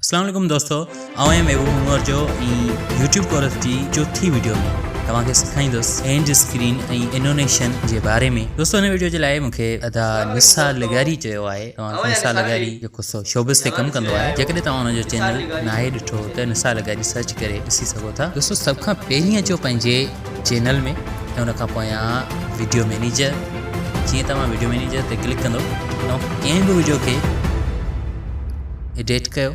السلام عليڪم دوستو آئون آهيان محبوب عمر جو ۽ يوٽيوب ڪورس جي چوٿين ويڊيو ۾ توهان کي سيکاريندس اينڊ اسڪرين ۽ انونيشن جي باري ۾ دوستو هن ويڊيو جي لاء مونکي ادا نثار لغاري چيو آهي توهان کي نثار لغاري جو قصو شوبز تي ڪم ڪندو آهي جيڪڏهن توهان ان جو چينل ناهي ڏٺو ته نثار لغاري سرچ ڪري ڏسي سگهو ٿا دوستو سڀ کان پهرين اچو پنهنجي چينل ۾ ۽ ان کان پويان ويڊيو مينيجر جيئن توهان ويڊيو مينيجر تي ڪلڪ ڪندو توهان ڪنهن به ويڊيو کي ايڊيٽ ڪيو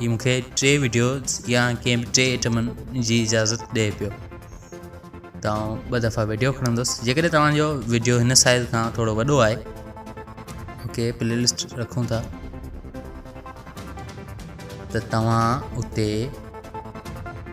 هي مون کي ٽي ويڊيوز يا ڪنهن به ٽي ائٽمن جي اجازت ڏئي پيو ته آئون ٻه دفعا ويڊيو کڻندس جيڪڏهن توهانجو ويڊيو هن سائز کان ٿورو وڏو آهي اوڪي پلي لسٽ رکون ٿا ته توهان اتي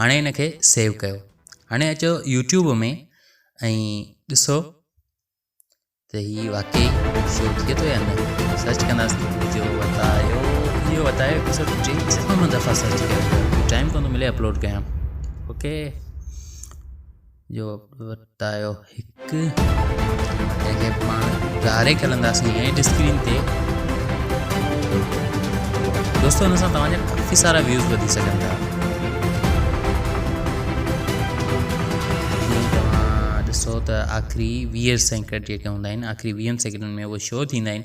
هاڻي هن کي سيو ڪيو هاڻي اچو يوٽيوب ۾ ۽ ڏسو ته هي واقعي شو ٿئي ٿو يا نه سرچ ڪنداسين جو وتايو جو وتايو هڪ سو ٽي سمن دفعا سرچ ڪيو ٽائم ڪون ٿو ملي اپلوڊ ڪيان اوڪي جو ورتايو هڪ جنهن کي پاڻ ڌاري کلنداسين ۽ اسڪرين تي دوستو هن سان توهان جا ڪافي سارا ويوز وڌي سگهن ٿا جيئن توهان ڏسو ته آخري ويهه سيڪنڊ جيڪي هوندا آهن آخري ويهن سيڪنڊن ۾ اهو شو ٿيندا آهن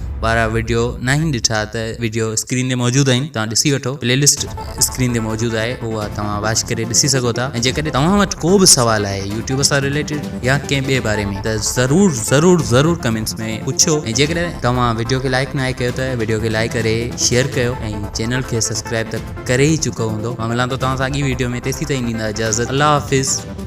وارا وڊيو ناهن ڏٺا ته وڊيو اسڪرين تي موجود آهن توهان ڏسي وٺو پلي لسٽ اسڪرين تي موجود آهي اها توهان واچ ڪري ڏسي سگهو ٿا ۽ جيڪڏهن توهان وٽ ڪو به سوال آهي يوٽيوب سان ريليٽيڊ يا ڪنهن ٻئي باري ۾ ته ضرور ضرور ضرور ڪمينٽس ۾ پڇو ۽ جيڪڏهن توهان وڊيو کي لائڪ ناهي ڪيو ته وڊيو کي لائڪ ڪري شيئر ڪيو ۽ چينل کي سبسڪرائب ته ڪري ئي چڪو هوندو مان ملان ٿو توهان سان اڳي وڊيو ۾ تيسين تائين ڏيندا اجازت الله حافظ